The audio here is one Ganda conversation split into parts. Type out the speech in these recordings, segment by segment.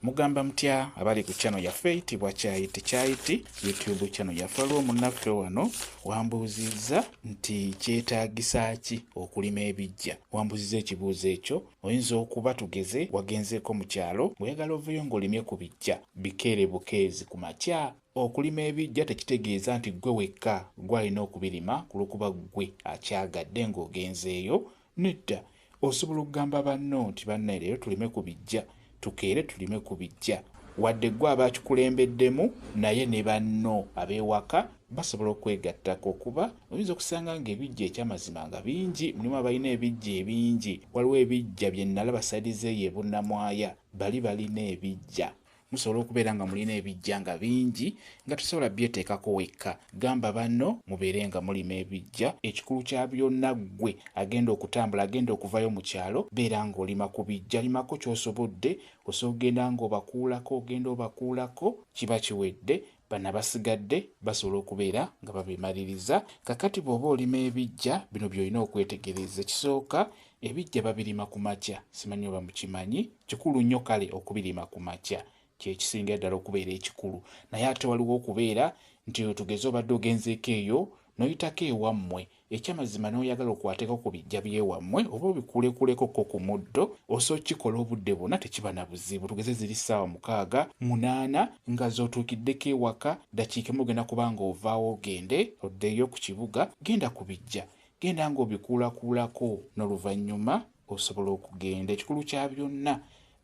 Mugamba mutya abali ku channel yaffe itibwa kyayiti kyayiti YouTube channel yaffe waliwo munnaffe wano wambuuzizza nti kyetaagisa ki okulima ebijja wambuuzizza ekibuuzo ekyo oyinza okuba tugeze wagenzeeko mu kyalo ng'oyagala oveyo ng'olimye ku bijja bikeere bukeezi ku makya okulima ebijja tekitegeeza nti ggwe wekka gwalina okubirima ku lwokuba ggwe akyagadde ng'ogenzeeyo Nedda, osobola okugamba banno nti, Bannaye, leero tulime ku bijja, tukeere tulime ku bijja. Wadde ggwe aba akikulembeddemu, naye ne banno ab'ewaka basobola okukwegattako, kuba oyinza okusanga nga ebijja eky'amazima nga bingi. Mulimu abalina ebijja ebingi. Waliwo ebijja bye nnalaba sayidi z'eyo e Bunnamwaya, bali balina ebijja. musobola okubeera nga mulina ebijja nga bingi nga tosobola byeteekako wekka gamba banno mubeere nga mulima ebijja ekikulu kya byonna ggwe agenda okutambula agenda okuvayo mu kyalo beera ng'olima ku bijja limako ky'osobodde osobola okugenda ng'obakuulako ogenda obakuulako kiba kiwedde Bano abasigadde basobola okubeera nga babimaliriza. Kakati bw'oba olima ebiggya, bino by'olina okwetegereza. Ekisooka, ebiggya babirima ku makya. Simanyi oba mukimanyi, kikulu nnyo kale okubirima ku makya. Kye kisingira ddala okubeera ekikulu. Naye ate waliwo okubeera nti oyo tugeze obadde ogenzeeko eyo n'oyitako ewammwe Ekyamazima noyagala okwateko ku bijja byewamwe oba obikulekuleko ko ku muddo osa okikola obudde bwona tekiba na buzibu tugeze ziri saawa mukaaga, munaana nga zotuukiddeko ewaka dakiika emu ogenda kuba nga ovaawo ogende oddeyo ku kibuga genda ku bijja genda nga obikuulakuulako noluvanyuma osobola okugenda ekikulu kya byonna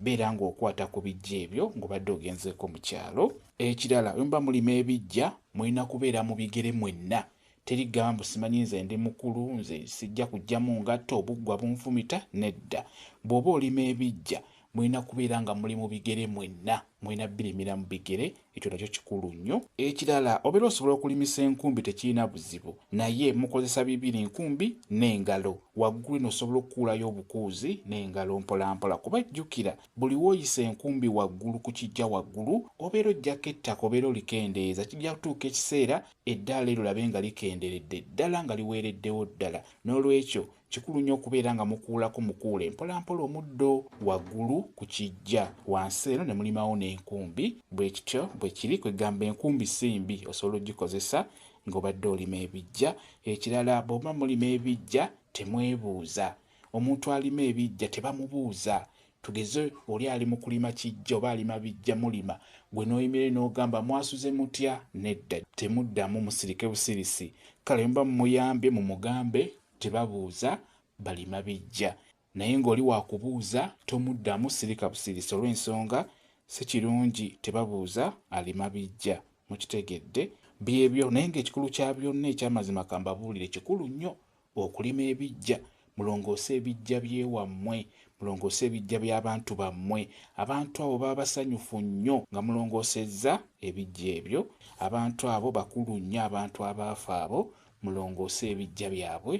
beera nga okwata ku bijja ebyo nga obadde ogenzeeko mu kyalo. Ekirala bwemuba mulima ebijja mulina kubeera mu bigere mwenna Teri gambu simanyi nze ndi mukulu nze sijja kujjamu ngatto obuggwa bunfumita nedda bwoba olima ebijja mulina kubeera nga muli mu bigere mwenna mulina birimira mu bigere ekyo nakyo kikulu nnyo ekirala obeera osobola okulimisa enkumbi tekirina buzibu naye mukozesa bibiri nkumbi n'engalo waggulu eno osobola okukuulayo obukuuzi n'engalo mpolampola kuba jjukira buli woyisa enkumbi waggulu ku kijja waggulu obeera ojjako ettaka obeera olikendeeza kijja kutuuka ekiseera Eddaala eryo labe nga likenderedde ddala nga liweereddewo ddala. N'olwekyo, kikulu nnyo okubeera nga mukuulako mukuule mpolampola omuddo waggulu ku kiggya wansi eno ne mulimawo n'enkumbi. Bwe kityo bwe kiri. Kwe kugamba enkumbi si mbi, osobola okugikozesa ng'obadde olima ebiggya. Ekirala bwe muba mulima ebiggya temwebuuza. Omuntu alima ebiggya tebamubuuza Tugeze oli ali mu kulima kiggya oba alima biggya mulima gwe n'oyimirira n'ogamba mwasuze mutya? Nedda temuddamu musirike busirisi. Kale muba mumuyambye mumugambe nti babuuza balima biggya naye ng'oli waakubuuza tomuddamu sirika busirisi olw'ensonga si kirungi tebabuuza alima biggya. Mukitegedde? Byebyo naye ng'ekikulu kya byonna eky'amazima kambabuulire kikulu nnyo okulima ebiggya mulongoose ebiggya by'ewammwe mulongoose ebiggya by'abantu bammwe abantu abo baba basanyufu nnyo nga mulongoosezza ebiggya ebyo abantu abo bakulu nnyo abantu abaafa abo mulongoose ebiggya byabwe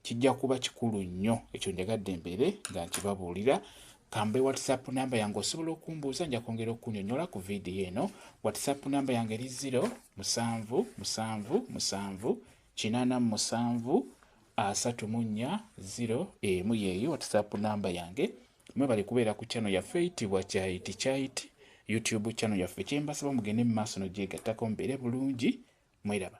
kijja kuba kikulu nnyo ekyo njagadde mbeere nga nkibabuulira kambe whatsapp namba yange osobola okumbuuza nja kwongera okunyonyola ku vidiyo eno whatsapp namba yange eri 0 musanvu musanvu musanvu kinaana mu musanvu asatu mu nnya ziro emu yeeyo whatsapp namba yange mwebale kubeera ku channel yaffe eyitibwa kyayiti kyayiti youtube channel yaffe kyembasaba mugende mu maaso nogyegattako mubeere bulungi mweraba